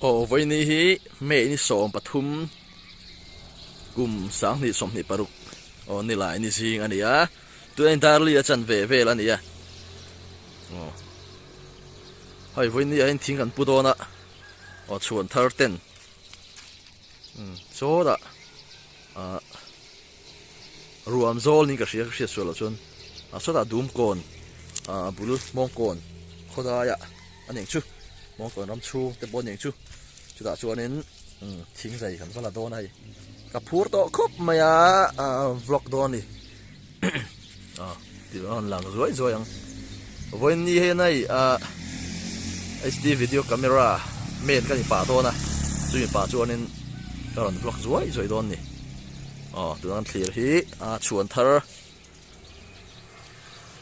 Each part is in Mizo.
Aw vawiini hi May ni sawm pathum kum sang hnih sawm hnih paruk aw ni lai ni zing a ni a tuna in darli a chan ve vel a ni a aw hoi vawiini ahin thing kan pu dawn a aw chhuan thar ten chawda a ruam zawl niin ka hria hriat sual loh chuan a sawtah dum kawn a bul mawng kawn khaw daiah a ning chu mawng kawn ram chhung te pawh a ning chu chutah chuanin thing zai kan va la dawn a hei ka phur tawh khawp mai a vlog dawn a ni Ah tih a rawn lang zuai zuai ang vawiin ni hian a ih ah HD video camera main ka ni pah dawn a chu mi pa chuanin ka rawn vlog zuai zuai dawn ni aw tun an thlir hi ah chhuan thar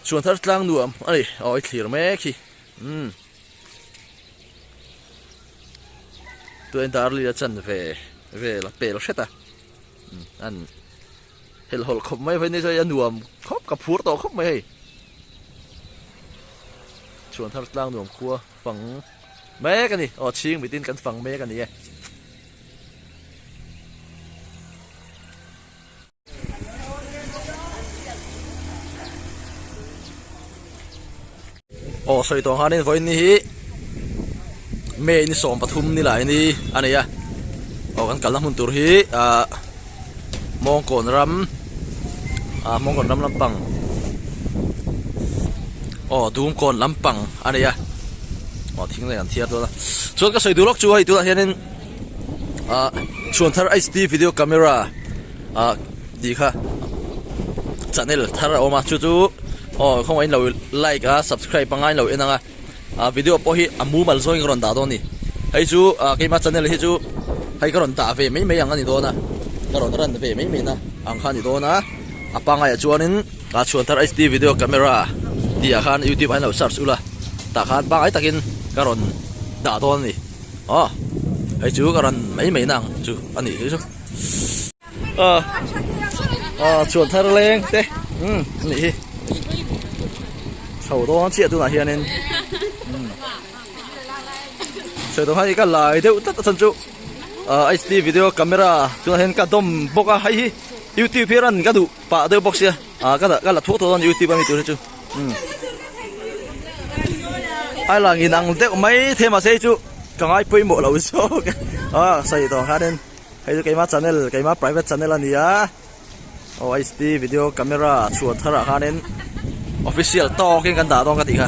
chhuan thar tlang nuam a ni aw i thlir mek hi umm tun darlin a chan ve vel a pel hret a an Hel hawlh khawp mai vawiin nisawi a nuam khawp ka phur tawh khawp mai hei chuan thar tlang nuam khua fang mek ani aw chhing mitin kan fang mek ani e Aw sawi tawh ang khan in vawiin ni hi may ni sawm pathum ni lah ini a nei a aw kan kalna hmun tur hi ah mawngkawn ram ah mawngkawn ram lampang aw dungkawn lampang a nei a aw thing leh an thiar dawn a chuan ka sawi duh lawk chu hei tunah hian in-- ah chhuan thar h d video camera ah tih kha channel thar a awm a chu chu aw khawngaih in lo like a subscribe panga in lo en ang a ah video pawh hi a mumal zawngin ka rawn dah dawn a ni hei chu ah keimah channel hi chu hei ka rawn dah ve mai mai ang a ni dawn a ka rawn run ve mai mai na ang kha a ni dawn a a pangai ah chuanin ah chhuan thar h d video camera tih ah khan youtube ah in lo search ulh a tah khan pangai takin ka rawn dah dawn a ni. aw hei chu ka ran mai mai na ang chu a nih hi chu ah ah chuan thar leng te umm a nih hi chho dawn chiah tunah hian in umm sawi tawh hi ka lai deuh tlat a chan chu ah hd video camera tunah hian ka dawm bawk a hei hi youtube hi a ra'n ka duh pah deuh bawk sia ah ka la ka la thuak tawh dawn youtube a mi tur hi chu Ai lang inang deuh mai the mah se chu ka ngai pawimawh lo zawk e a sawi tawh ang hianin hei chu keima channel keima private channel a ni a aw hd video camera chhuah tharah hianin official tawkin kan dah dawn ka ti kha.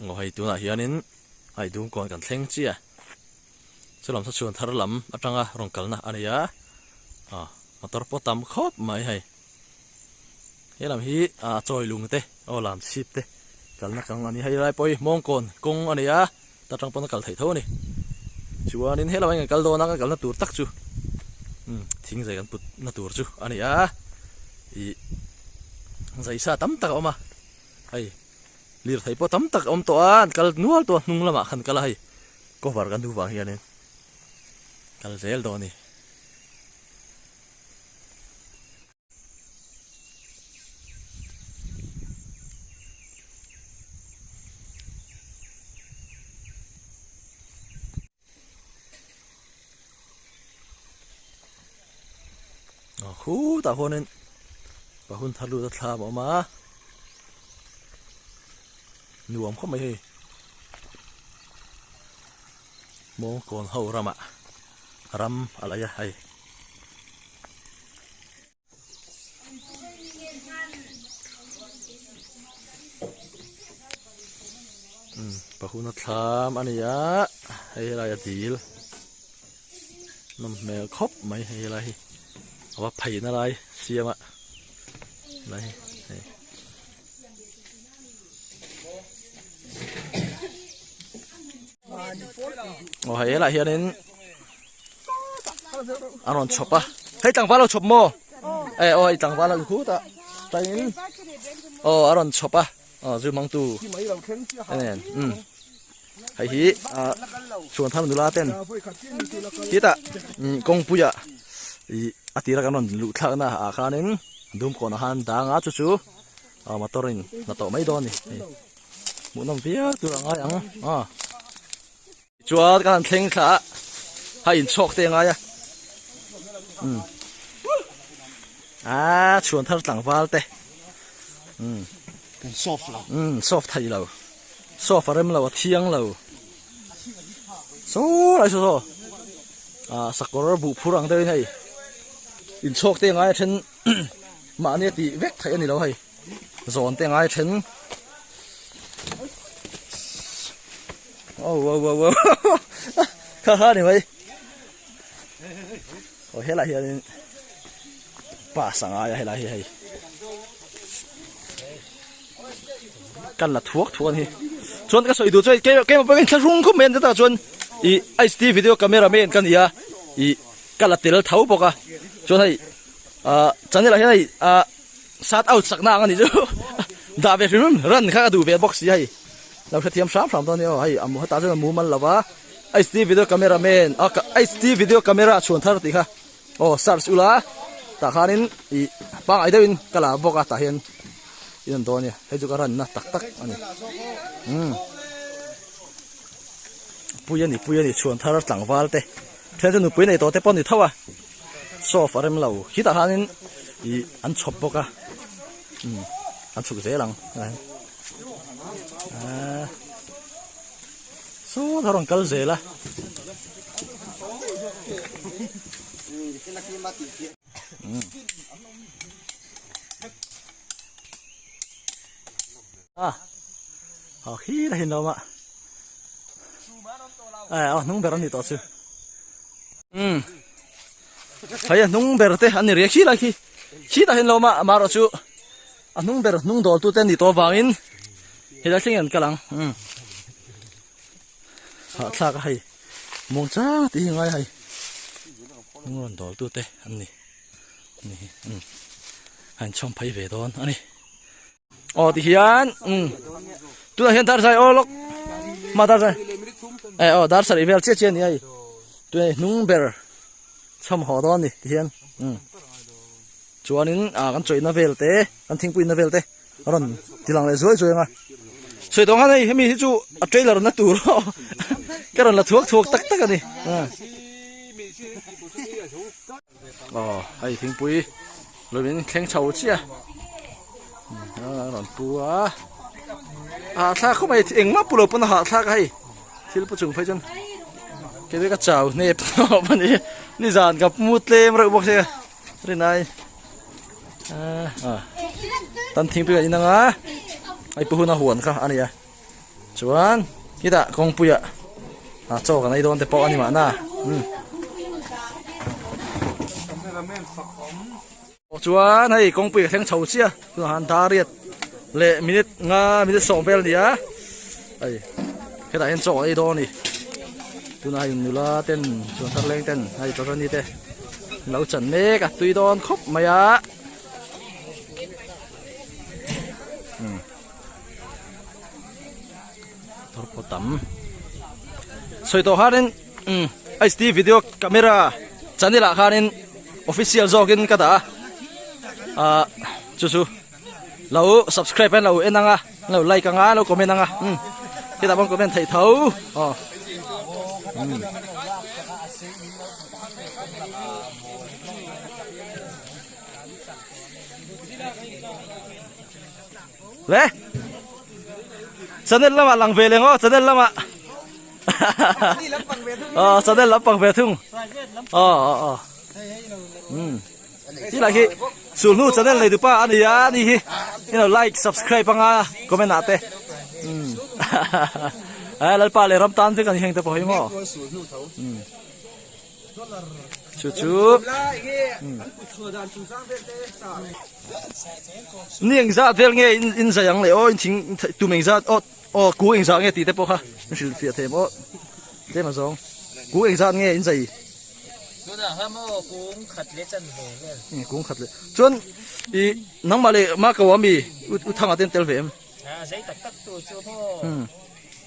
Aw hei tunah hianin hei dungkawn kan thleng chiah a, chu lam sa chuan thar lam atanga rawn kalna a nei a, aw motor pawh a tam khawp mai hei, he lam hi a chawi lung te aw lam chi chhip te kalna kang a ni, hei rai pawhi mawngkawn kawng a nei a, ta tang pawn a kal theih tho a ni, chuanin he lamah hian kan kal dawn a, kan kalna tur tak chu umm thing zai kan putna tur chu a ni a, ih zai sa tam tak a awm a hei. Lirthei pawh tam tak a awm tawh a, an kal nual tawh a, hnung lamah khan kal a hei cover kan duh vang hianin kal zel dawn a ni. khu ta huanin pa hun thar lu ta thla a awm a nuam khawp mai hei mawng kawn ho ramah ram a laih a hei pahuna thlam a ni a hei helai a dil nawm hmel khawp mai hei helai hi a va phaihna lai siam a lai hei aw hei helai hianin a rawn chhawp a hei tlangval ho chhawp maw e aw i tlangval a khut a tain aw a rawn chhawp a aw zu mangtu nen um hei hi a chuan thar nula ten kita kawngpuia i a tira kan rawn luh thlak na a khanin dum kawn a han dang a chu chu a motorin na tawh mai dawn ni hmuhnawm viau tur ang ai ang a Chuan ka han thleng thla a, ha in chhawk te ngai a. Um. Ah, chuan thar tlang val te. Um. Kan soft lo. Um, soft thai lo. Soft a rem lo, a thiang lo. So, ai so so. Ah, sakawr bu phur ang deuhin hei. In chhawk te ngai a then mah ania tih vek thai a ni lo hei. zawn te ngai then oh oh oh oh kha kha ni mai oh helai hian in pa sanga ya helai hi hei kan la thuak thuan hi chuan ka soi du choi ke ke ma pakin thla rung khum men ta chuan i ice tea video camera men kan ia i kala tel thau boka chuan hei a chanela hian hei a Sat out sak na ang ani chu dah ve hrim hrim ran kha ka duh ve bawk si hei lo hrethiam hram hram dawn nia hei amu heta chuan a mumal lo va HD video camera man a HD video camera a chhuan thar tih kha aw search ula tah khanin i pangai deuhin ka la bawk a tah hian in an dawn nia hei chu ka ran na tak tak ani um pui ani pui ani chhuan thar tlangval te Thil chu nupui nei tawh te pawh ni tho a, show off a rem lo. Khitah hianin ih an chhawp bawk a, umm an chhuk zel ang helai ahh sawtah a rawn kal zel a. a a khir hin lo ma a a hnung ber ani to chu um hei a hnung ber te ani re khi la khi khi ta hin lo ma ma ro chu a hnung ber hnung dol tu te ni to wangin hei la thing an kalang um ha thlak a hei mong cha ti hi ngai hei hnung ron dol tu te ani ni um han chhawm phai ve don ani aw tihian umm tunah hian darthlalang aw lawk mah darthlalang e aw darthlalang vel chiah chiah a ni a hei tunah hi hnung ber chhawm haw dawn a ni tihian umm chuanin ah kan chawihna vel te kan thingpui na vel te a rawn ti lang leh zuai zuai ang a sawi tawh anghin hei hemi hi chu a trailer na tur a awm ka rawn la thuak thuak tak tak a ni a. Aw, hei thingpui lawm in thleng chho chiah a a rawn pu a hahthlak khawp mai eng mah pu lo pawn a hahthlak a hei thil pu chung phei chuan kei vek a chau hnep tawp a ni nizan ka mu tlem reuh bawk sia rinai a a tan thingpuiah inang a hei pu huna huan kha a ni a. Chuan khitah kawngpuia ah chaw kan ei dawn te pawh a ni mahna umm Pawh chuan hei kawngpui ka thleng chho chiah a, tunah han da riat leh minute nga minute sawm vel a ni a, hei khitah hian chaw kan ei dawn a ni, tunah hei nula ten chuan tarleng ten hei tawtani te an lo chan mek a, tui dawn khawp mai a umm. thar pawh tam sawi tawh khanin umm h d video camera channel ah khanin official zawk in ka dah a ah chu chu lo subscribe hian lo en anga lo like anga lo comment anga umm khitah pawn comment theih tho aw umm le channel lama lang ve lengo channel lama ờ channel lam pang ve thung ờ ờ ờ um hi la hi sul nu channel này dupa ani ya ani hi you know like subscribe anga comment ate um ai lalpa le ram tan te kan heng te pawh hi mo um chu chu ni eng zah vel nge in zai ang leh aw in thing tum eng zat aw aw ku eng zah nge tih te pawh kha in hrilh fiah thei ang aw tlem ah zawng ku eng zat nge in zai tunah kha maw kung khat leh chan ve vel eh kung khat leh chuan i nangmah leh makau ami u thanga ten tel ve em a zei tak tak tur chu maw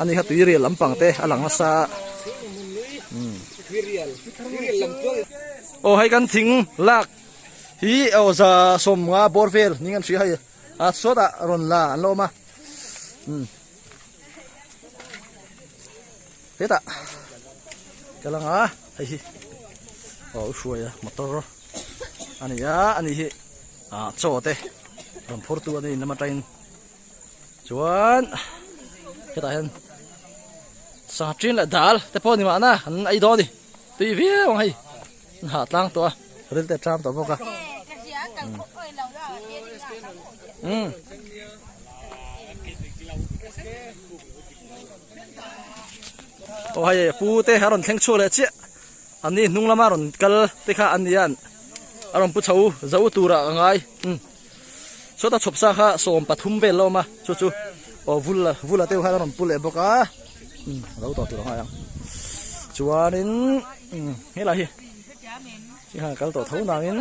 Ani kha tui rial lam pang te a lang nasa a. Aw hei kan thing lak hi aw za som nga bor vel ni ngan hria hei a sawt a ron la an lawm a. Heta ka lang a hei hi aw hruai a motor ani a ani hi a chaw te ram phur tu ani lama tain chuan hetah hian sangha ṭin leh dal te pawh ni mahna an ei dawn a ni tui viau ang hei an hahtlang tawh a ril te a ṭam tawh bawk a umm aw hei pu te a rawn thleng chhuak leh chiah an ni hnung lama rawn kal te kha an ni hian a rawn pu chho zo turah ka ngai umm. Sawta chhawp sa kha sawm pathum vel la awm a, chu chu aw vul la vul la teuh khan a rawn pu leh bawk a. Um a lo tawh tur ang aiang. Chuanin um helai hi hi khan a kal tawh tho nangin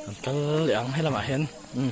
an kal leh ang helamah hian um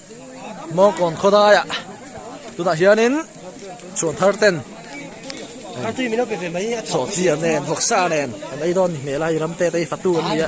mawngkawn khawlaiah tunah hianin chhuan thar ten sawhchi an nen vawksa a nen an ei dawn a nih hmel a hei ram te atei fatu an ni a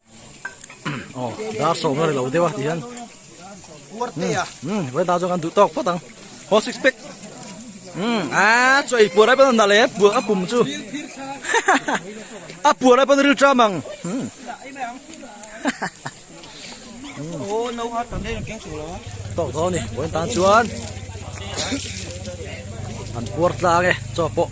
aw dar sawm na ri lo deuh a ti hian weather chu kan duh tawk phawt ang aw six pack a chu ei puar lai pawh a rawn dah leh puah a pum chu a puah lai pawh a rawn ril tram ang tawk dawn a ni vawiin tan chuan an puar tlang e chaw pawh.